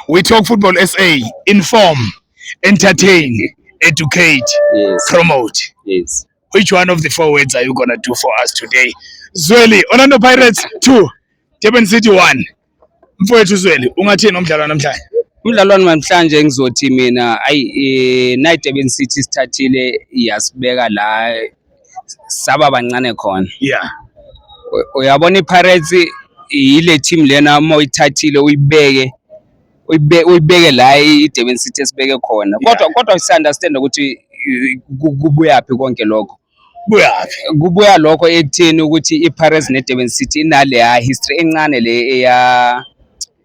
We talk football SA, inform, entertain, educate, yes. promote. Yes. Which one of the four words are you gonna do for us today? Zweli, Orlando Pirates 2, Durban City 1. Mfowethu Zweli, ungathini umdlalo namhlanje? Umdlalo namhlanje ngizothi mina ayi eh, Night Durban City sithathile yasibeka la saba bancane khona yeah uyabona iPirates yile team lena uma uyithathile uyibeke uyibeke la iDurban City esibeke khona kodwa kodwa si understand ukuthi kubuyaphi konke lokho buyaphi kubuya lokho ekutheni ukuthi iPirates neDurban City inaleya history encane le eya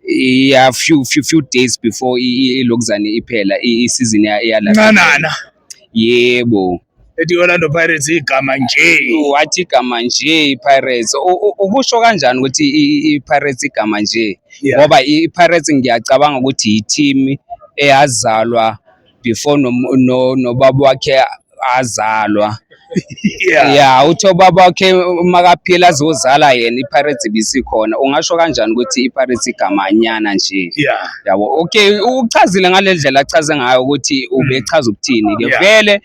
Yeah, few few few days before ilokuzane iphela isizini yala. Ncanana. Yebo. Ethi Orlando Pirates igama nje. Wathi igama nje iPirates. Ukusho kanjani ukuthi iPirates igama nje? Ngoba iPirates ngiyacabanga ukuthi yiteam eyazalwa before nobaba wakhe azalwa ya uthi obaba wakhe makaphila azozala yena iPirates bisikhona ungasho kanjani ukuthi iPirates igamanyana nje yabo okay uchazile ngalendlela achaze ngayo ukuthi ubechaza ukuthini ke vele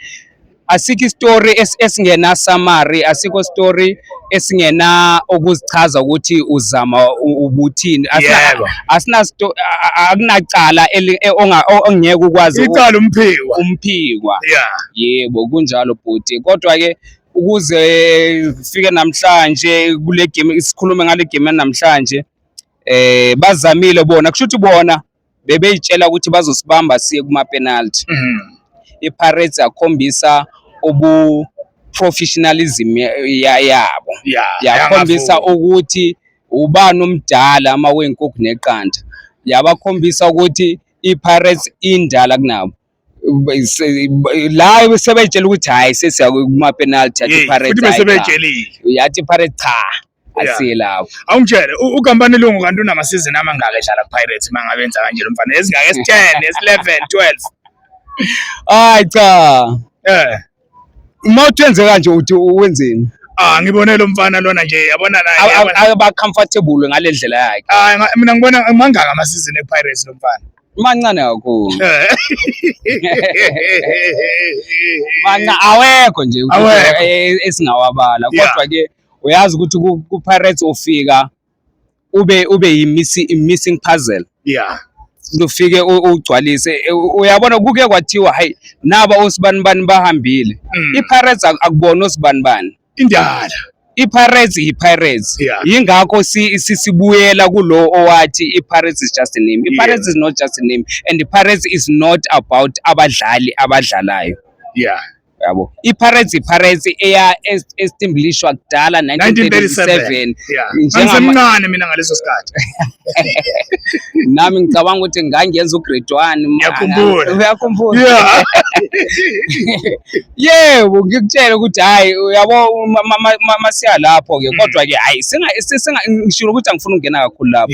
asikho isitori esingena summary asikho story esingena ukuzichaza ukuthi uzama ubuthini asina akunacala e, ongeke ukwazi icala umphiwa umphiwa yebo kunjalo bhuti kodwa ke ukuze fike namhlanje kule game isikhulume ngale game namhlanje eh bazamile bona kusho ukuthi bona bebeyitshela ukuthi bazosibamba siye kuma-penalty mhm. i-pirates yakhombisa ubu professionalism yabo yakhombisa ukuthi ubani omdala ama wenkukhu neqanda yabakhombisa ukuthi i-pirates indala kunabo la sebeyitshela ukuthi hhayi sesiya kuma-penalty yathi iPirates futhi besebetshelile yathi iPirates cha asiye lapho awungitshele ukampani lungu kanti unamasizini amangaka edlala kupirates uma ngabe enza kanje lo mfana ezingaka esi-ten esi-eleven twelve hayi cha um uma uthi wenze kanje uthi wenzeni Ah ngibone lo mfana lona nje yabona naye. Aba comfortable ngale ndlela yakhe. Ah mina ngibona mangaka ama season ePirates lo mfana. Mancane kakhulu. Manca awekho nje eh, esingawabala kodwa ke uyazi ukuthi kuPirates ofika ube ube yi missing puzzle yeah lufike ugcwalise e, uyabona kuke kwathiwa hayi naba osibani bani bahambile mm. iPirates akubona osibani bani indala iPirates yiPirates yeah. yingakho sisibuyela kulo owathi iPirates is just a name iPirates yeah. is not just a name and iPirates is not about abadlali abadlalayo yeah yabo iPirates iPirates eya estimblishwa kudala 1937 njengamncane mina ngaleso sikhathi nami ngicabanga ukuthi ngangenza ugrade 1 uyakhumbula uyakhumbula yebo ngikutshela ukuthi hayi uyabo masiya lapho ke mm. kodwa ke hayi singa singa ngishilo ukuthi angifuni ukungena kakhulu lapho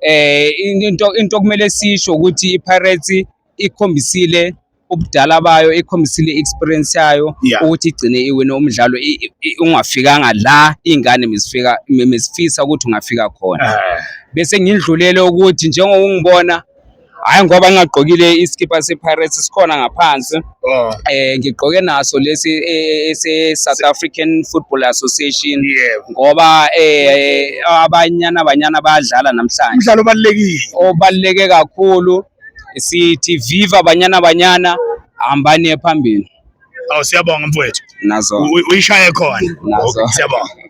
eh into into kumele sisho ukuthi iPirates ikhombisile ubudala bayo ikhombisile experience yayo yeah. ukuthi igcine iwine umdlalo ungafikanga la ingane mizifika mizifisa ukuthi ungafika khona eh. bese ngindlulele ukuthi njengokungibona hayi ngoba ngingagqokile isikipha sePirates sikhona ngaphansi oh. eh ngigqoke naso lesi e, e, ese South African Football Association ngoba eh abanyana abanyana bayadlala namhlanje umdlalo obalekile obaleke kakhulu sithi viva banyana banyana hambani ephambili Aw siyabonga mfowethu. nazo Uy- Uyishaye khona. Nazo. Okay, Siyabonga.